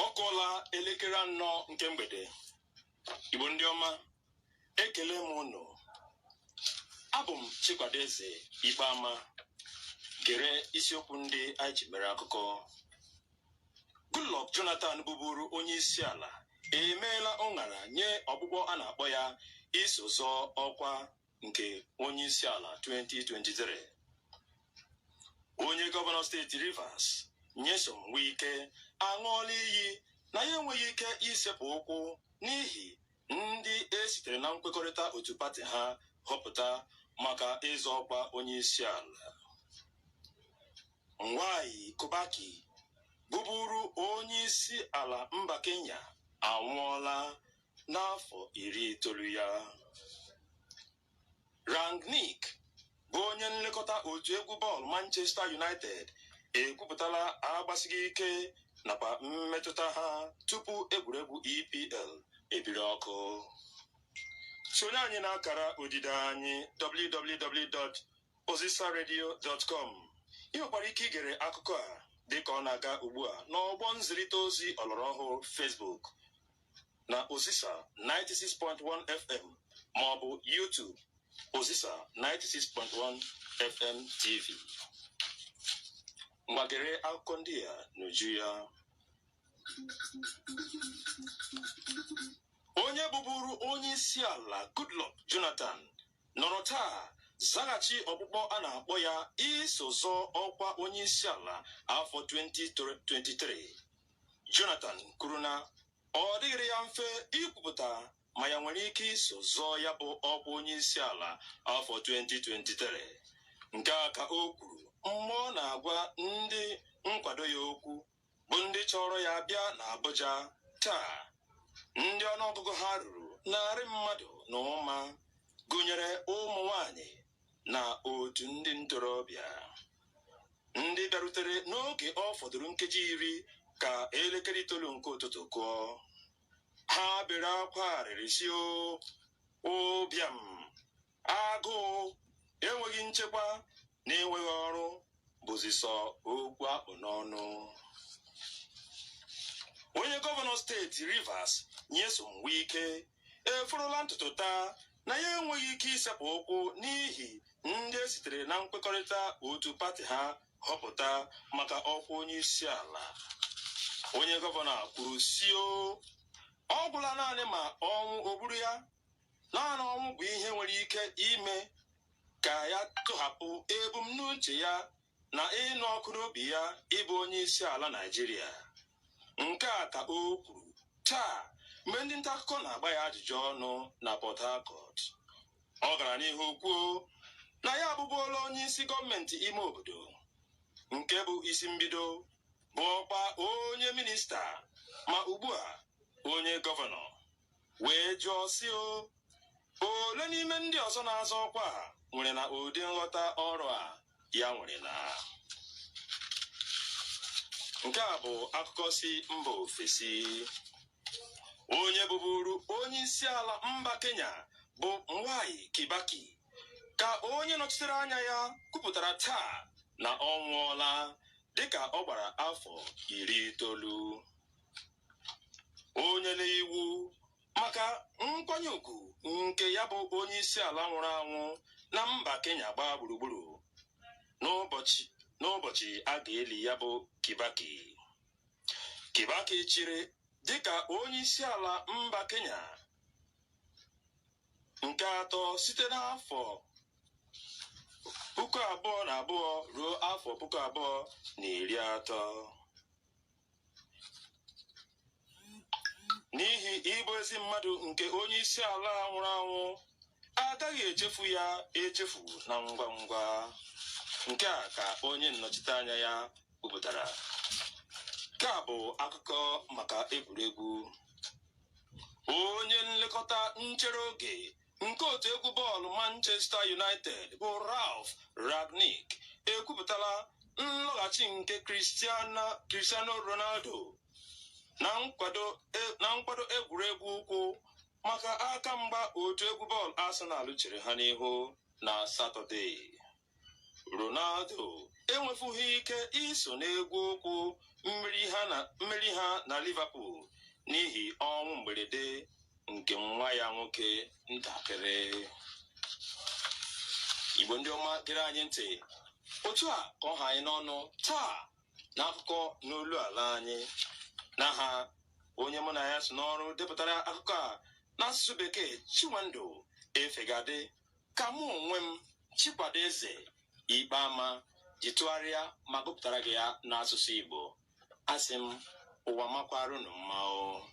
ọ kụọla elekere anọ nke mgbede igbo ndị ọma ekele m unu abụ m chikwado eze Ikpeama gere isiokwu ndị anyị ji mere akụkọ Goodluck Jonathan bụburu onye isi ala emeela ụṅara nye ọkpụkpọ a na-akpọ ya iso zọọ ọkwa nke onye isi ala 2023 onye gọvanọ steeti Rivers Nyesom Wike aṅụọla iyi na ya enweghị ike isepụ ụkwụ n'ihi ndị e sitere na nkwekọrịta otu pati ha họpụta maka ịzọ ọkwa onye isi ala Mwai Kibaki bụburu onye isi ala mba Kenya anwụọla n'afọ iri itoolu ya rangnick bụ onye nlekọta otu egwu bọọlụ manchester united ekwupụtala agbasighị ike nakwa mmetụta ha tupu egwuregwu epl ebiri ọkụ sonye anyị na akara odide anyị www.ozisaradio.com ị nwekwara ike igere akụkọ a dịka ọ na-aga ugbu a n'ọgbọ nzirịta ozi ọlọrọ ọhụụ Facebook na Ozisa 96.1 FM ma ọ bụ YouTube Ozisa 96.1 FM TV. Ngwa gere akụkọ ndị a n'uju ya. Onye bụburu onye isi ala Goodluck Jonathan nọrọ taa zaghachi ọkpụkpọ a na-akpọ ya iso zọọ ọkwa onye isi ala afọ 2023. Jonathan kwuru na ọ dịghịrị ya mfe ikwupụta ma ya nwere ike iso zọọ ya bụ ọkwa onye isi ala afọ 2023 nke a ka o kwuru mgbe ọ na-agwa ndị nkwado ya okwu bụ ndị chọrọ ya bịa na Abuja taa ndị ọnụọgụgụ ha ruru narị mmadụ na ụma gụnyere ụmụ nwanyị na otu ndị ntorobịa ndị bịarutere n'oge ọ fọdụrụ nkeji iri ka elekere itoolu nke ụtụtụ kụọ ha bere akwa arịrị sị o ụbịam agụụ enweghị nchekwa na enweghị ọrụ bụzi sọ okwu a kpụ n'ọnụ onye gọvanọ steeti rivers nyesom wike eforola ntutu taa na ya enweghị ike isepụ ụkwụ n'ihi ndị e sitere na nkwekọrịta otu pati ha họpụta maka ọkwa onye isi ala onye gọvanọ kwuru sị o ọ gwụla naanị ma ọnwụ o gburu ya naanị ọnwụ bụ ihe nwere ike ime ka ya tụhapụ ebumnuche ya na ịnụ ọkụ n'obi ya ịbụ onye isi ala Naịjirịa. Nke a ka o kwuru taa mgbe ndị nta akụkọ na-agba ya ajụjụ ọnụ na Port Harcourt. Ọ gara n'ihu kwuo na ya abụbuola onye isi gọọmenti ime obodo nke bụ isi mbido bụọkwa onye minista ma ugbu a onye gọvanọ wee jụọ sị o ole n'ime ndị ọzọ na-azọ ọkwa a nwerena ụdị nghọta ọrụ a ya nwerena nke a bụ akụkọ si mba ofesi onye bụburu onye isi ala mba kenya bụ Mwai Kibaki ka onye nọchitere anya ya kwupụtara taa na ọ nwụọla dịka ọ gbara afọ iri itoolu o nyena iwu maka nkwanye ugwu nke ya bụ onye isi ala nwụrụ anwụ na mba Kenya gbaa gburugburu n'ụbọchị a ga-eli ya bụ Kibaki Kibaki chịrị dịka onye isi ala mba Kenya nke atọ site n'afọ puku abụọ na abụọ ruo afọ puku abụọ na iri atọ n'ihi ịbụ ezi mmadụ nke onye isi ala nwụrụ anwụ agaghị echefu ya echefu na ngwa ngwa nke a ka onye nnọchiteanya ya kwupụtara nke a bụ akụkọ maka egwuregwu onye nlekọta nchere oge nke otu egwu bọọlụ Manchester United bụ Ralf Rangnick ekwupụtala nlọghachi nke Cristiano Ronaldo na nkwado egwuregwu ụkwụ maka aka mgba otu egwu bọọlụ Arsenal chere ha n'ihu na Satọde Ronaldo enwefughị ike iso n'egwu ụkwụ mmeri ha na Liverpool n'ihi ọnwụ mberede nke nwa ya nwoke ntakịrị igbo ndị ọma gere anyị ntị otu a ka ọ ha anyị n'ọnụ taa n'akụkọ n'olu ala anyị n'aha onye mụ na ya so n'ọrụ depụtara akụkọ a n'asụsụ bekee Chinwendu Efegadị ka mụ onwe m Chikwado Eze Ikpeama ji tụgharịa ma gụpụtara gị ya n'asụsụ Igbo asị m ụwa makwaara unu mma o